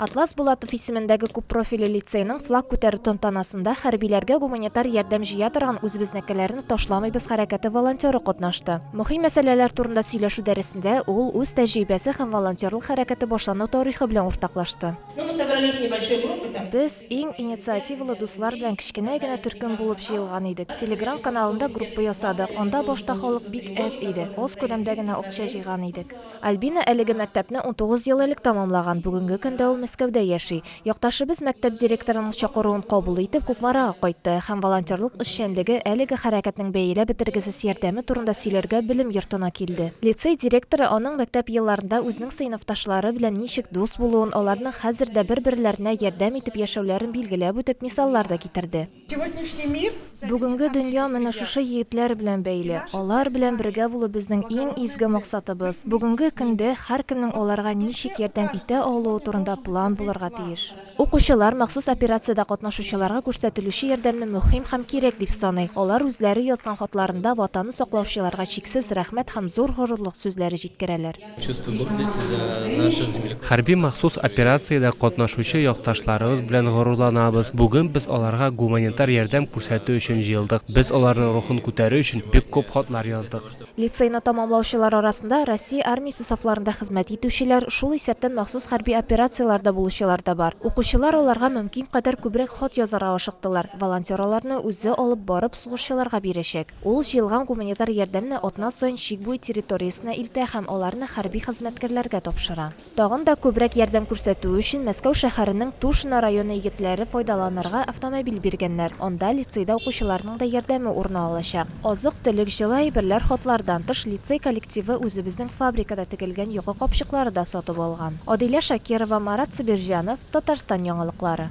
Атлас Булатов исемендәге күппрофильле лицейның флаг күтәрү тантанасында хәрбиләргә гуманитар ярдәм җыя торган Үзебезнекеләрне ташламыйбыз хәрәкәте волонтеры катнашты. Мөһим мәсьәләләр турында сөйләшү дәресендә ул үз тәҗрибәсе һәм волонтерлык хәрәкәте башлану тарихы белән уртаклашты. Без, иң инициативалы дуслар белән кечкенә генә төркем булып җыелган идек. Телеграм каналында группа ясадык. Анда башта халык бик әз иде, аз күләмдә генә акча җыйган идек. Альбина әлеге мәктәпне унтугыз ел элек тәмамлаган, бүгенге көндә ул Мәскәүдә яши. Якташыбыз мәктәп директорының чакыруын кабул итеп, Кукмарага кайтты һәм волонтерлык эшчәнлеге, әлеге хәрәкәтнең бәяләп бетергесез ярдәме турында сөйләргә белем йортына килде. Лицей директоры аның мәктәп елларында үзенең сыйныфташлары белән ничек дус булуын, аларның хәзер дә бер-берләренә ярдәм итеп яшәүләрен билгеләп үтеп, мисаллар да китерде. Сегодняшний мир. Бүгенге дөнья менә шушы егетләр белән бәйле. Алар белән бергә булу безнең иң изге максатыбыз. Бүгенге көндә һәркемнең аларга ничек ярдәм итә алуы турында план булырга тиеш. Укучылар махсус операциядә катнашучыларга күрсәтелүче ярдәмне мөһим һәм кирәк дип саный. Алар үзләре язган хатларында Ватанны саклаучыларга чиксез рәхмәт һәм зур горурлык сүзләре җиткерәләр. Хәрби махсус операциядә катнашучы якташларыбыз белән горурланабыз. Бүген без аларга гуманитар ярдәм күрсәтү өчен җыелдык. Без аларның рухын күтәрү өчен бик күп хатлар яздык. Лицейны тәмамлаучылар арасында Россия Армиясе сафларында хезмәт итүчеләр, шул исәптән махсус хәрби операцияләрдә булучылар да бар. Укучылар аларга мөмкин кадәр күбрәк хат язарга ашыктылар, волонтер аларны үзе алып барып сугышчыларга бирәчәк. Ул җыелган гуманитар ярдәмне атна саен чик буе территориясенә илтә һәм аларны хәрби хезмәткәрләргә тапшыра. Тагын да күбрәк ярдәм күрсәтү өчен Мәскәү шәһәренең Тушино районы егетләре файдаланырга автомобиль биргәннәр, анда лицейда укучыларның да ярдәме урна алачак. Азык-төлек, җылы әйберләр хатлардан тыш, лицей коллективы үзебезнең фабрикада тегелгән йокы капчыклары да сатып алган. Адилә Шакирова, Марат Сабирҗанов, Татарстан яңалыклары.